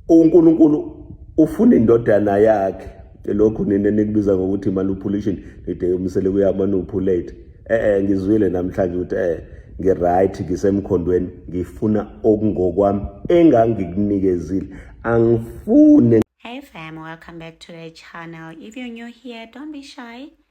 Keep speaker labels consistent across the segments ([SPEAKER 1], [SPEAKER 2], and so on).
[SPEAKER 1] uNkulunkulu ufuna indodana yakhe lokhu nina nikubiza ngokuthi manipulation nide umsele kuyamanipulate eh eh ngizwile namhlanje ukuthi eh ngiright ngisemkhondweni ngifuna okungokwami engangikunikezile angifune Hey fam,
[SPEAKER 2] welcome back to the channel. If you're new here, don't be shy.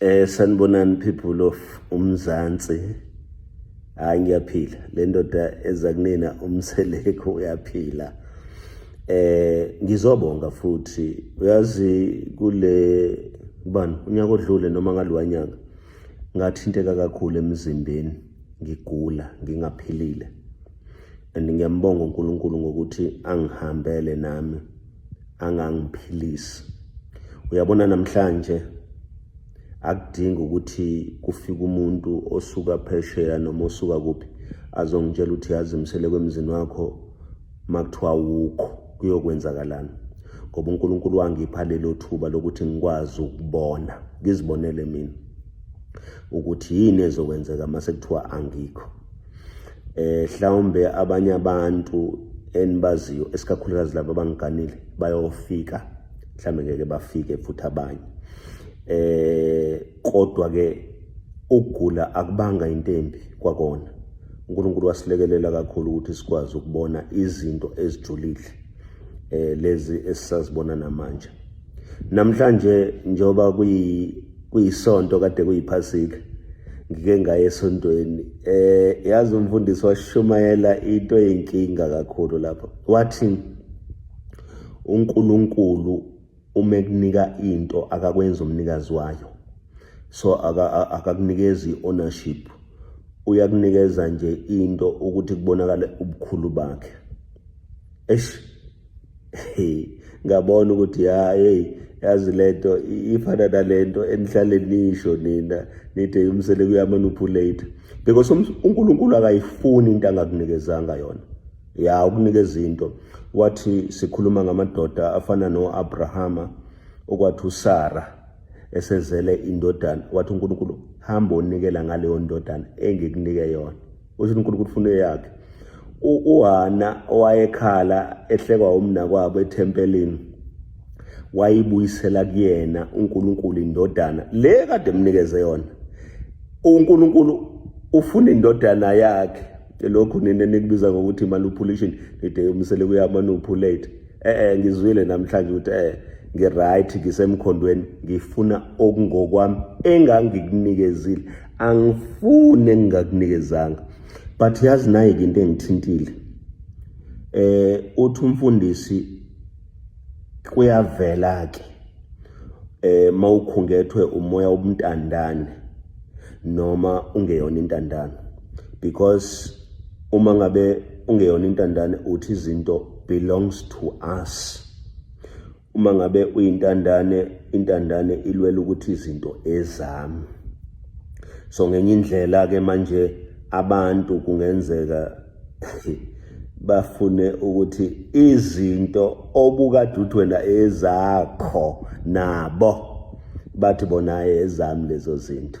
[SPEAKER 2] Eh sanibonani
[SPEAKER 1] people of uMzansi. Hayi ngiyaphila. Le ndoda eza kunina umseleko uyaphila. Eh ngizobonga futhi uyazi kule bani unyaka odlule noma ngaliwanyaka ngathinteka kakhulu emzimbeni ngigula ngingaphilile and ngiyambonga uNkulunkulu ngokuthi angihambele nami angangiphilisi uyabona namhlanje akudingi ukuthi kufike umuntu osuka phesheya noma osuka kuphi azongitshela ukuthi yazimisele kwemzini wakho makuthiwa wukho kuyokwenzakalani ngoba uNkulunkulu wangipha lelo thuba lokuthi ngikwazi ukubona ngizibonele mina ukuthi yini ezokwenzeka mase kuthiwa angikho eh hlawumbe abanye abantu enibaziyo esikakhulukazi laba abangiganile bayofika mhlawumbe ngeke bafike futhi abanye eh kodwa ke ukugula akubanga into embi kwakona uNkulunkulu wasilekelela kakhulu ukuthi sikwazi ukubona izinto ezijulile eh lezi esisazibona namanje Namhlanje njoba kuyi kuyisonto kade kuyiphasika ngike ngaye esontweni eh yazi umfundisi washumayela into eyinkinga kakhulu lapho wathi uNkulunkulu uma ekunika into akakwenza umnikazi wayo so akakunikezi ownership uyakunikeza nje into ukuthi kubonakale ubukhulu bakhe eish ngabona ukuthi ya hey yazi lento ifana nalento enihlale nisho nina nithe umsele kuyamanupulate because um, uNkulunkulu akayifuni into angakunikezanga yona ya ukunikeza into wathi sikhuluma ngamadoda afana noAbrahama okwathi uSara esezele indodana wathi uNkulunkulu hamba onikela ngaleyo ndodana engikunike yona usho uNkulunkulu ufuna eyakhe uHana owayekhala ehlekwa umnakwabo ethempelini wayibuyisela kuyena uNkulunkulu indodana le kade emnikeze yona uNkulunkulu ufuna indodana yakhe lokhu nina nikubiza ngokuthi manipulation nide umsele kuya manipulate eh eh ngizwile namhlanje ukuthi eh ngiright ngisemkhondweni ngifuna okungokwami engangikunikezile angifune ngingakunikezanga but yazi naye ke into engithintile eh uthi umfundisi kuyavela ke eh mawukhungethwe umoya obumntandane noma ungeyona intandane because uma ngabe ungeyona intandane uthi izinto belongs to us uma ngabe uyintandane intandane ilwela ukuthi izinto ezami so ngenye indlela ke manje abantu kungenzeka bafune ukuthi izinto obukade uthi wena ezakho nabo bathi bona ezami lezo zinto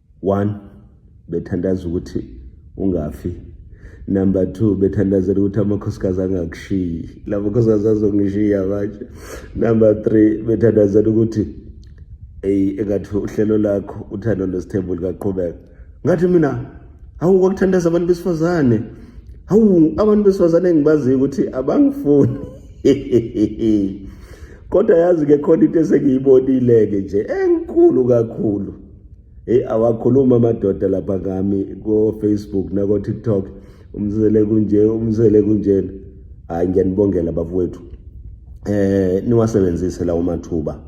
[SPEAKER 1] One, bethandaza ukuthi ungafi. Number two, bethandazela ukuthi amakhosikazi angakushiyi. La makhosikazi azongishiya manje. Number three, bethandazela ukuthi eyi engathi uhlelo lakho uthando nesithembu likaqhubeka. Ngathi mina hawu kwakuthandaza abantu besifazane. Hawu abantu besifazane engibaziyo ukuthi abangifuni. Kodwa yazi ke khona into esengiyibonile-ke nje enkulu kakhulu. Hey awakhuluma amadoda lapha ngami ko Facebook nako TikTok umzele kunje umzele kunjena hayi ngiyanibongela bafowethu eh niwasebenzise lawo mathuba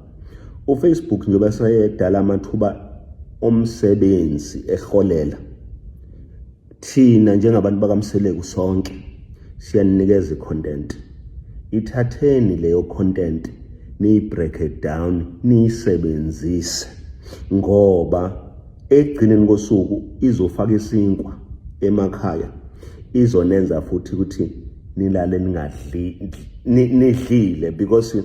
[SPEAKER 1] uFacebook njengoba sayedala amathuba omsebenzi eholela Thina njengabantu bakamseleku sonke siyaninikeza icontent. Ithatheni leyo content niyibreak it down niyisebenzise ngoba ekugcineni kosuku izofaka isinkwa emakhaya izonenza futhi ukuthi nilale ningadli nidlile because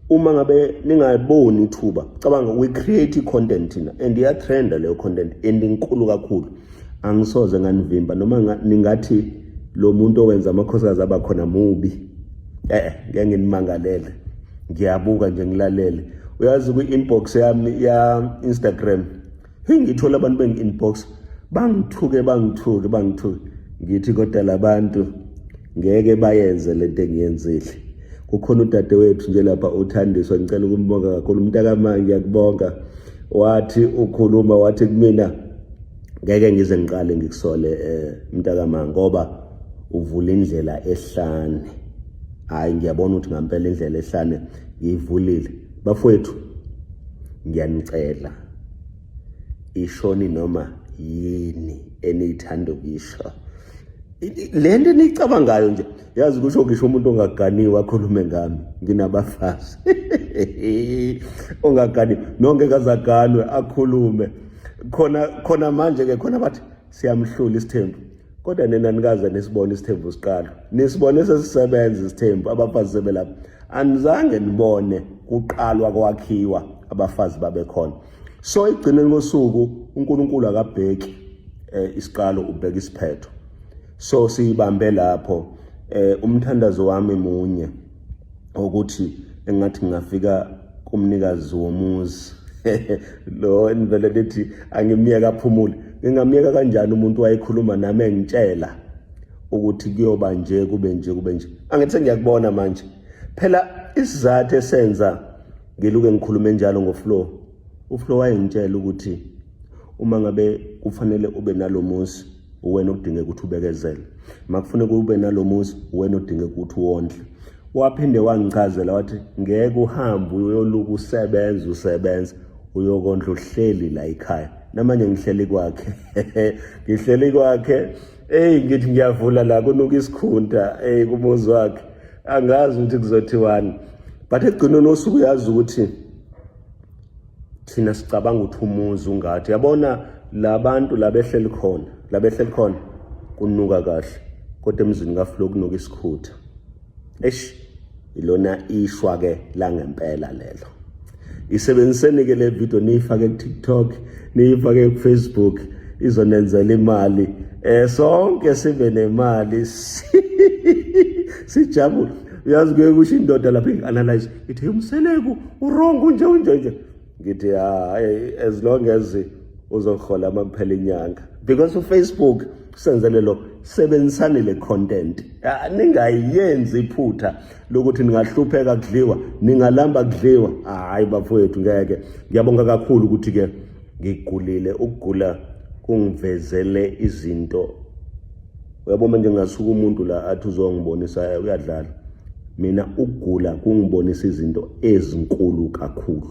[SPEAKER 1] uma ngabe ningayiboni ithuba cabanga we create content thina and iya trend leyo content and inkulu kakhulu angisoze nganivimba noma ningathi lo muntu owenza amakhosikazi aba khona mubi eh ngeke nginimangalele ngiyabuka nje ngilalele uyazi kwi-inbox yami ya Instagram hey ngithola abantu bengi-inbox bangithuke bangithuke bangithuke ngithi kodwa labantu ngeke bayenze lento engiyenzile kukhona udadewethu nje lapha uthandiswa ngicela ukumbonga kakhulu umntakamanje ngiyakubonga wathi ukhuluma wathi kumina ngeke ngize ngiqale ngikusole eh, mntakama ngoba uvula indlela ehlane hayi ngiyabona ukuthi ngampela indlela ehlane ngiyivulile bafowethu ngiyanicela ishoni noma yini eniyithanda ukuyisho le nto eniyicabangayo nje yazi kusho ngisho umuntu ongaganiwe akhulume ngami nginabafazi ongaganiwe nongeke azaganwe akhulume khona khona manje ke khona bathi siyamhlula isithembu kodwa nina nikaze nisibone isithembu siqala nisibone sesisebenza isithembu abafazi sebelapha anizange nibone kuqalwa kwakhiwa abafazi babekhona so igcineni kosuku uNkulunkulu akabheki eh, isiqalo ubheka isiphetho so siyibambe lapho eh umthandazo wami munye ukuthi engathi ngingafika kumnikazi womuzi lo enivele lithi angimyeka aphumule ngingamyeka kanjani umuntu wayekhuluma nami engitshela ukuthi kuyoba nje kube nje kube nje angithi ngiyakubona manje phela isizathu esenza ngiluke ngikhulume njalo ngoflow uflow wayengitshela ukuthi uma ngabe kufanele ube nalomuzi uwena odinga ukuthi ubekezele makufuneka ube nalomuzi uwena odinga ukuthi wondle waphinde wangichazela wathi ngeke uhambe uyoluka usebenza usebenza uyokondla uhleli la ekhaya namanje ngihleli kwakhe ngihleli kwakhe eyi ngithi ngiyavula la kunuka isikhunta eyi kumuzi wakhe angazi ukuthi kuzothiwani but ekugcineni osuku uyazi ukuthi thina sicabanga ukuthi umuzi ungathi yabona labantu labehleli khona labehleli khona kunuka kahle kodwa emzini kaflo kunuka isikhutha eish ilona ishwa ke la ngempela lelo isebenziseni ke le video niyifake ku TikTok niyifake ku Facebook izonenzela imali eh sonke sibe nemali sijabule uyazi kuye kusho indoda lapha i-analyze Ngithi umseleku uwrong unje unje nje. Ngithi hayi as long as uzohola uma kuphela inyanga because uFacebook usenzele lokho sebenzisani le content ah, ningayenzi iphutha lokuthi ningahlupheka kudliwa ningalamba kudliwa hayi bafowethu ngeke ngiyabonga kakhulu ukuthi ke ngigulile ukugula kungivezele izinto uyabo manje ngingasuka umuntu la athi uzongibonisa eh, uyadlala mina ukugula kungibonisa izinto ezinkulu kakhulu